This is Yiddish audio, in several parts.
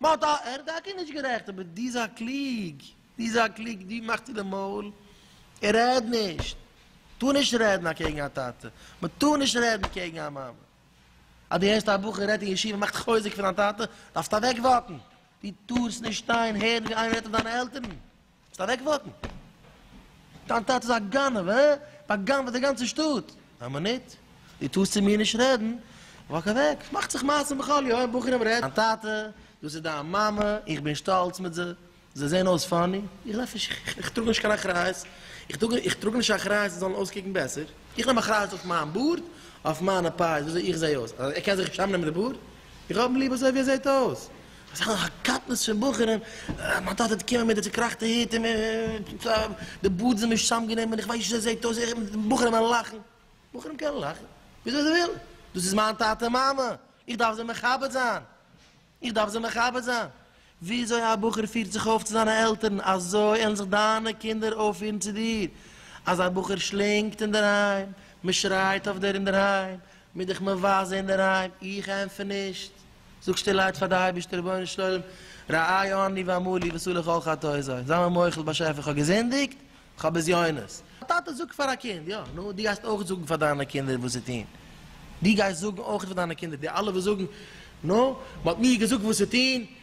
באט א, ער איז טאקע נישט גערעכט, אבער דו זיי קלוג, דו זיי קלוג, דו מאך צו די מויל, רעד נישט, טאר נישט רעדן אקעגן א טאטע, מען טאר נישט רעדן קעגן א מאמע, אז דו הערסט א בחור רעדט אין ישיבה מאכט חוזק פון דיין טאטע, דארפסט אוועק וואקן, דו טארסט נישט שטיין הערן ווי איינער רעדט אויף דיינע עלטערן. זאלסט אוועק וואוטן. דיין טאטע איז א גנב, הא? בא'גנב'עט די גאנצע שטאט. א מינוט, דו טארסט צו מיר נישט רעדן, וואק אוועק. עס מאכט זיך מעשים בכל יום, בחורים רעדן. דיין טאטע, דאס איז דיין מאמע, איך בין שטאלץ מיט זיי, זיי זעען אויס פאני, איך דארף נישט, איך טראג נישט קיין אחריות, איך טראג נישט אחריות זיי זאלן אויסקוקן בעסער, איך נעם אחריות אויף מיין בארד, אויף מיינע פאות, וויאזוי איך זע אויס, ער קען זיך נישט אראפנעמען די בארד? איך האב אים ליב אזוי ווי ער זעט אויס, אזעלכע קטנות פון בחורים, מיין טאטע האט געקומען מיט די צוקראכטע היט און די בארד זענען משעמם גענומען, איך ווייס נישט ווי אזוי ער זעט אויס, בחורים וועלן לאכן, בחורים קענען לאכן וויאזוי זיי ווילן, דאס איז מיין טאטע מאמע, איך דארף זיי מכבד זיין, איך דארף זיי מכבד זיין, וויאזוי א בחור פירט זיך אויף צו זיינע עלטערן, אזוי עלן זיך דיינע קינדער אויפפירן צו דיר, אז א בחור שלינגט אינדערהיים, מען שרייט אויף דער אינדערהיים, מיר דיך מבזה אינדערהיים, איך ענטפער נישט, זאג שטילערהייט פאר די אייבישטער רבונו של עולם, ראה עני ואמור לי ועשו לי כל חטאי זיי מיר מוחל באשעפער כ'האב געזינדיגט, כ'האב בזיונות. א טאטע זאגט פאר א קינד, יא נו, דו גייסט אויך זאגן פאר דיינע קינדער וואס צו טון, דו גייסט זאגן אויך פאר דיינע קינדער, די אלע וואס זאגן, נו, מ'האט מיר געזאגט וואס צו טון,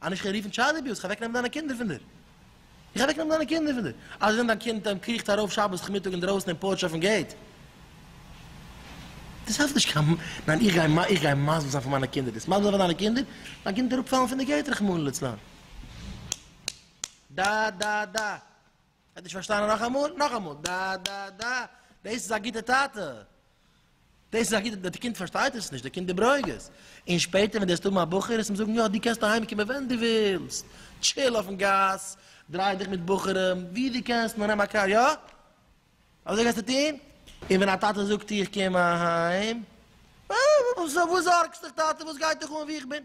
אז נישט כ'וועל רופן טשייד אביוז, כ'וועל אוועק נעמען דיינע קינדער פון דיר, איך וועל אוועק נעמען דיינע קינדער פון דיר, אז ווען דיין קינד דעם קריכט ארויף שבת כמיטאג אינדרויסן אין פארטש אויפן געיט, דאס העלפט נישט קיין, ניין איך גיי איך גיי מסביר זיין פאר מיינע קינדער דאס, מסביר זיין פאר דיינע קינדער, דיין קינד וועט אראפ פאלן פון די געיט רחמנא לצלן. ד ד ד. האט נישט פארשטאנען נאכאמאל נאכאמאל ד ד ד דעיס איז א גיטע טאטע דעיס איז א גיטע די קינד פארשטייט עס נישט די קינד איז ברוגז אין שפעטער ווען די וועסט האבן א בחור עס אים זאגן יא די קענסט אהיים קומען ווען די ווילסט טשיל אויפן גאס דריי דיך מיט בחורים ווי די קענסט נאר נעם א קאר יא אזוי גייסטו טון אין ווען א טאטע זאגט איך קום אהיים וואס זארגסט דיך טאטע וואס גייט דיך אן ווי איך בין.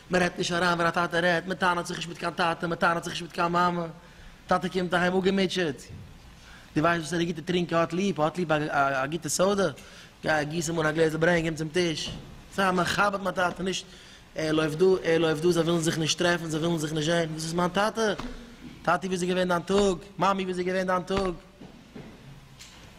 מען רעדט נישט אריין ווען א טאטע רעדט, מען טענה'ט זיך נישט מיט קיין טאטע, מען טענה'ט זיך נישט מיט קיין מאמע, טאטע קומט אהיים אפגעמוטשעט, דו ווייסט וואס ער איז גוט אין טרינקען, האט ליב, האט ליב א גוטע סאדע, גיי גיס אים אן א גלעזל ברענג אים צום טיש, זיי מכבד מיין טאטע, נישט ער לויפט דא, ער לויפט דא, זיי ווילן זיך נישט טרעפן, זיי ווילן זיך נישט זען, דאס איז מיין טאטע, טאטי ווי איז געווען דיין טאג, מאמי ווי איז געווען דיין טאג.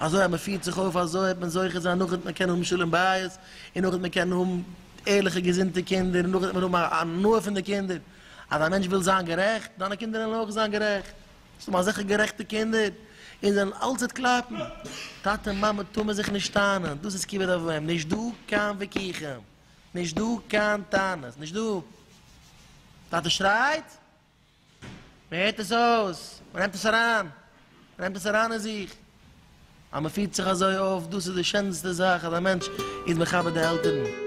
אזוי אז מען פירט זיך אויף אזוי וועט מען זוכה זיין נאכדעם וועט מען קענען האבן שלום בית און נאכדעם וועט מען קענען האבן ערליכע געזונטע קינדער און נאכדעם וועט מען האבן א הנאה פון די קינדער, אז א מענטש וויל זיין גערעכט, דיינע קינדער וועלן אויך זיין גערעכט, וועסט האבן אזעלכע גערעכטע קינדער און זעלן אלץ וועט קלאפן, טאטע און מאמע טאר מען זיך נישט טענה'ן, דאס איז כיבוד אב ואם, נישט דא קיין וויכוחים, נישט דא קיין טענות, נישט דא, טאטע שרייט, מען הערט עס אויס, מען נעמט עס אריין, מען נעמט עס אריין אין זיך, אז מען פירט זיך אזוי אויף, דאס איז די שענסטע זאך אז א מענטש איז מכבד די עלטערן.